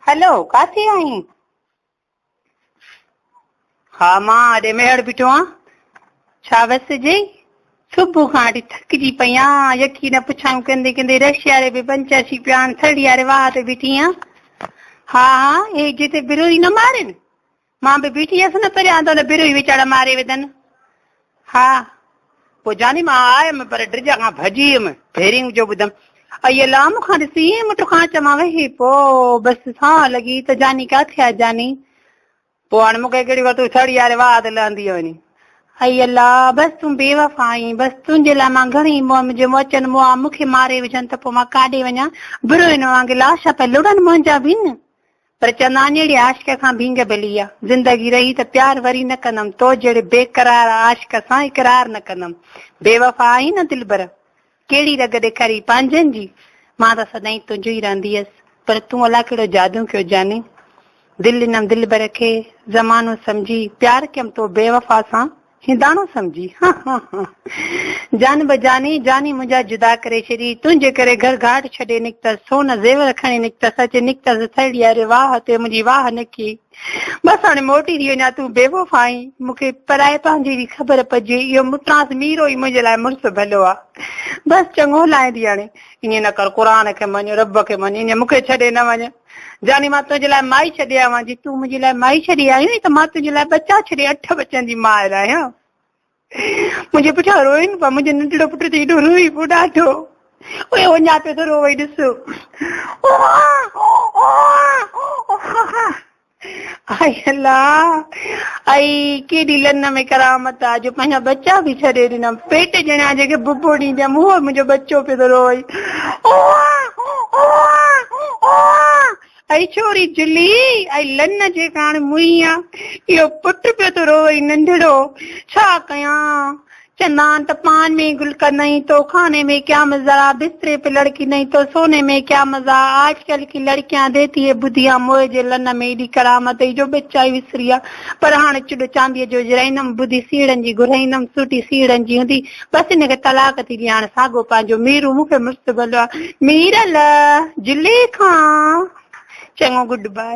هلو ڪاٿي آهين؟ ها مان اڏي ميهڙ بيٺو آهيان ڇا وس جي صبح کان اڏي ٿڪجي پئي آهيان يقين نه پڇايون ڪندي ڪندي رشيا ري به پنچر شي پيان ٿڙيا ري واهه تي بيٺي آهيان ها ها هي جتي بروي نه مارين مان به بيٺي هيس نه پريان ته ان بروهي وچاڙ ماري وڌن. ها پوء جاني مان آيم پر ڊرجا کان ڀڄي ويم ڀيرينگ جو ٻڌم اي الله مون کان ڏسي ايئن مٺ کانچ مان وهي پو بس سان لڳي ته جاني ڪاٿي آ جاني پو هاڻ مونکي ڪهڙي وقت تون سڙي ياري واهه ته لهندي وڃي اي الله بس تون بي وفا آهين بس تنهنجي لاء مان گهڻي مهم جي مون اچن مون آ مونکي ماري وجهن ته پو مان ڪاڏي وڃان بروين وانگي لاشا پي لڙن منهنجا بن پر چندان جهڙي عاشق کان ڀينگ ڀلي آ. زندگي رهي ته پيار وري نه ڪندم. تو جهڙي بي قرار عاشق سان اقرار نه ڪندم. بي وفا آهين نه دلبر. ڪهڙي رڳ ڏيکاري پنهنجن جي. مان ته سدائين تنهنجو ئي رهندي هيس. پر تون الاء ڪهڙو جادو ڪيو جاني. دل ڏنم دلبر کي زمانو سمجهي. پيار ڪيم تو بي وفا سان. هنداڻو سمجهي جان بجاني جاني منهنجا جدا ڪري ڇڏي تنهنجي ڪري گهر گهاٽ ڇڏي نڪتس سون زيور کڻي نڪتس اچي نڪتس سهيڙي اري واهه تي منهنجي واهه نڪي بس هاڻي موٽي ٿي وڃا تون بي وفا آهين مون کي پرائي پنهنجي جي خبر پجي اهو مٽانس ميرو ئي منهنجي لاء مڙس ڀلو آهي بس چڱو لائندي هاڻي ائين نه ڪر قرآن کي مڃ رب کي مڃ ائين مون کي ڇڏي نه وڃ جاني مان تنهنجي لاء مائي ڇڏي آيوان جي تون منهنجي لاء مائي ڇڏي آيو آهين ته مان تنهنجي لاء ٻچا ڇڏي اٺ ٻچن جي ماء آهيان منهنجي پٺيان روئين پيا منهنجو ننڍڙو پٽ ته ايڏو روئي پيو ڏاڍو اهي وڃا پيو ته روئي ڏس هائي الله اي ڪيڏي لن ۾ ڪرامت آ جو پنهنجا ٻچا به ڇڏي ڏنا پيٽ ڄڻا جيڪي ببو ڏيندي آ مون منهنجو ٻچو پيو ٿو روئي اي ڇوري جلي اي لن جيڪا هاڻي مئي آ اهو پٽ پيو ٿو روئي ننڍڙو ڇا ڪيان چندان ته پان ۾ گل ڪا نهين تو خاني مي ڪيا مزا بستري پي لڙڪي نهين تو سوني مي ڪيا مزا آج ڪل ڪي لڙڪيان ديتي هي بديان موهي جي لن ۾ ايڏي ڪرامت هئي جو ٻچا ئي وسريا پر هاڻ چڏ چانديء جو جرائيندم بدي سيڙهن جي گهرائيندم سوٽي سيڙهن جي هوندي بس هن کي طلاق ٿي ڏي هاڻ ساڳو پنهنجو ميرو مون کي مڙس ڀلو آ ميرل زليخا چڱو گڊ باء